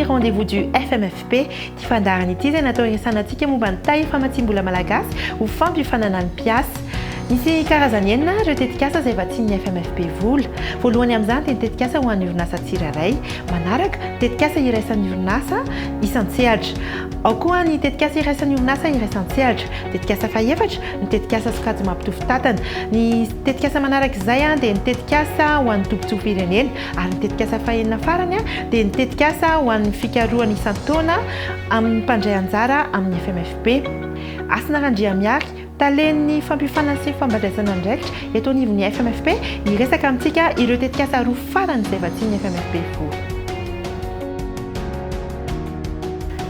rendez-vous du FMFP ity fandaharana ity izay natao hiresana antsika momba ny taille famatsiam-bola malagasy ho fampiofanana ny mpiasa misy karazany enina ireo tetikasa izay vatsian'ny FMFP vola voalohany amin'izany dia ny tetikasa ho an'ny orinasa tsirairay manaraka tetikasa iraisan'ny orinasa isan-tsehatra ao koa ny tetikasa iraisan'ny orinasa iraisan-tsehatra tetikasa fahefatra ny tetikasa sokajy mampitovy tatana, ny tetikasa manaraka izay dia ny tetikasa ho an'ny tobin-tsorom-pirenena ary ny tetikasa fahenina farany dia ny tetikasa ho an'ny fikarohana isan-taona amin'ny mpandray anjara amin'ny FMFP. Hasina Randriamihary, Talen'ny fampiofanana sy fampandraisana andraikitra eto anivon'ny FMFP hiresaka amintsika ireo tetikasa roa farany izay vatsian'ny FMFP vory.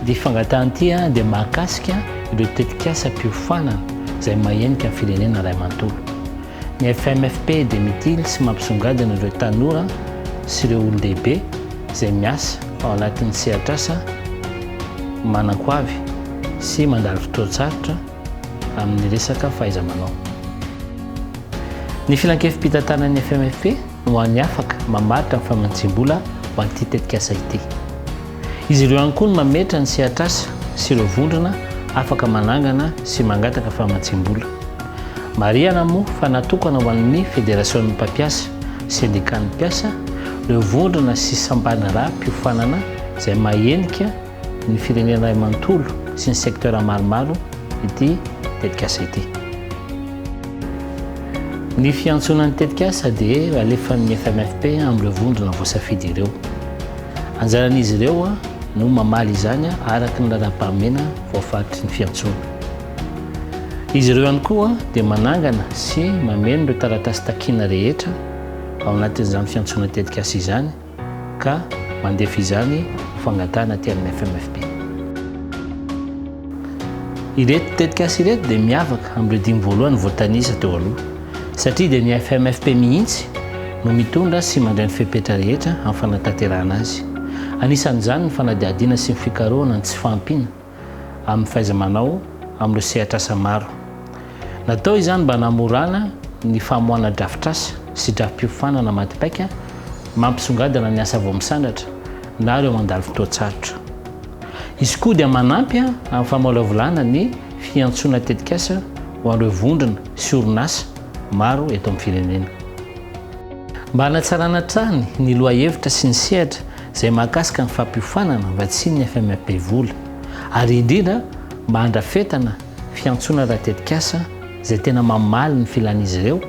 Ity fangatahan ity dia mahakasika ireo tetikasa mpiofanana izay mahenika ny firenena iray manontolo. Ny FMFP dia mitily sy mampisongadina ireo tanora sy ireo olon-dehibe izay miasa ao anatin'ny sehatrasa manan-ko avy sy mandalo fotoan-tsarotra amin'ny resaka fahaiza-manao. Ny filankevi-pitantanan'ny FMFP. ho an'ny afaka mamaritra ny famantsiam-bola ho an'ity tetikasa ity. Izy ireo ihany koa no mametra ny sehatr'asa sy ireo vondrona afaka manangana sy mangataka famantsiam-bola. Marihana moa fa natokana ho an'ny Federasion'ny mpampiasa, Sendikan'ny mpiasa, ireo vondrona sy sampandraharaham-piofanana izay mahenika, ny firenena iray manontolo sy ny secteur maromaro ity tetikasa ity. Ny fiantsoana ny tetikasa dia alefan'ny FMFP amin'ireo vondrona voasafidy ireo. Anjaran'izy ireo no mamaly izany araka ny lalam-pahamena voafaritry ny fiantsoana. Izy ireo ihany koa dia manangana sy mameno ireo taratasy takiana rehetra ao anatin'izany fiantsoana tetikasa izany ka mandefa izany fangatahana aty amin'ny FMFP. Ireto tetikasa ireto dia miavaka amin'ireo dimy voalohany voatanisa teo aloha, satria dia ny FMFP mihitsy no mitondra sy mandray ny fepetra rehetra amin'ny fanatanterahana azy. Anisan'izany ny fanadihadiana sy ny fikarohana ny tsy fahampiana, amin'ny fahaiza-manao amin'ireo sehatr'asa maro. Natao izany mba hanamorana ny famoahana drafitr'asa sy drafi-piofanana matipaika mampisongadina ny asa vao misandratra na ireo mandalo fotoan-tsarotra. Izy koa dia manampy amin'ny famolavolana ny fiantsoana tetikasa ho an'ireo vondrona sy orinasa maro eto amin'ny firenena. Mba hanatsarana hatrany ny lohahevitra sy ny sehatra izay mahakasika ny fampiofanana vatsinin'ny FMEP vola ary indrindra mba handrafetana fiantsoana ara-tetikasa izay tena mamaly ny filan'izy ireo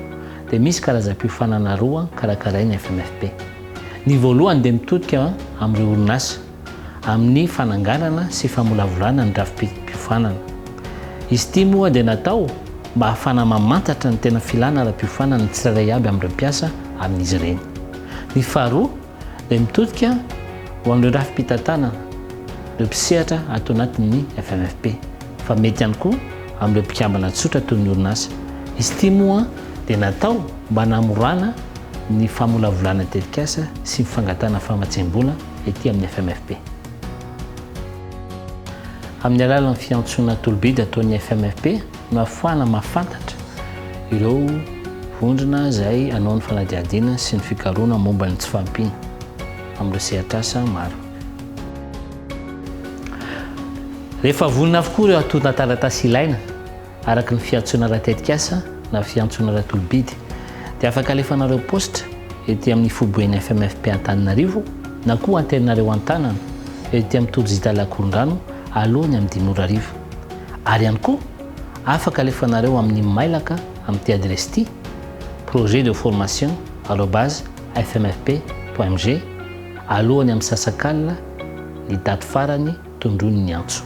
dia misy karazam-piofanana roa karakarain'ny FMEP. Ny voalohany dia mitodika amin'ireo orinasa amin'ny fananganana sy famolavolana ny drafi-piofanana. Izy ity moa dia natao mba hahafana mamantatra ny tena filana ara-piofanana ny tsirairay avy amin'ireo mpiasa amin'izy ireny. Ny faharoa, dia mitodika ho amin'ireo rafi-pitantanana, ireo mpisehatra ato anatin'ny FMFP, fa mety ihany koa amin'ireo mpikambana tsotra toy ny orinasa. Izy ity moa dia natao mba hanamorana ny famolavolana ny tetikasa sy ny fangatahana famatsiam-bola ety amin'ny FMFP. Amin'ny alalan'ny fiantsoana tolobida ataon'ny FMFP, Mahafoana mahafantatra ireo vondrona izay hanao ny fanadihadiana sy ny fikarohana momba ny tsy fahampiana amin'ireo sehatr'asa maro. Rehefa vonona avokoa ireo antontan-taratasy ilaina araka ny fiantsoana ara-tetikasa na fiantsoana ara-tolo-bidy dia afaka alefanareo post ety amin'ny foiben'ny FMFP Antananarivo na koa anterinareo an-tanana ety amin'ny tojita Lakorongano aloha ny amin'ny dimy ora hariva. Ary ihany koa, afaka alefanareo amin'ny mailaka amin'ity adiresy ity, projetdeformation arobase fmfp point mg, alohan'ny amisasak'alina ny daty farany tondroiny ny antso.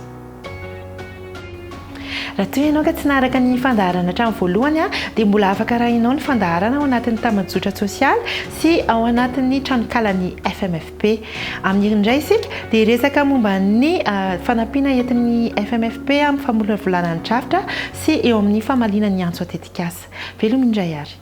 Raha toa ianao ka tsy naharaka ny fandaharana hatramin'ny voalohany, dia mbola afaka arahinao ny fandaharana ao anatin'ny tambajotra tsosialy sy ao anatin'ny tranonkalan'ny fmfp. Be. Amin'iriny indray isika dia hiresaka momba ny fanampiana entin'ny FMFP amin'ny famolavolana ny drafitra sy eo amin'ny famaliana ny antso an-tetikasa. Veloma indray ary.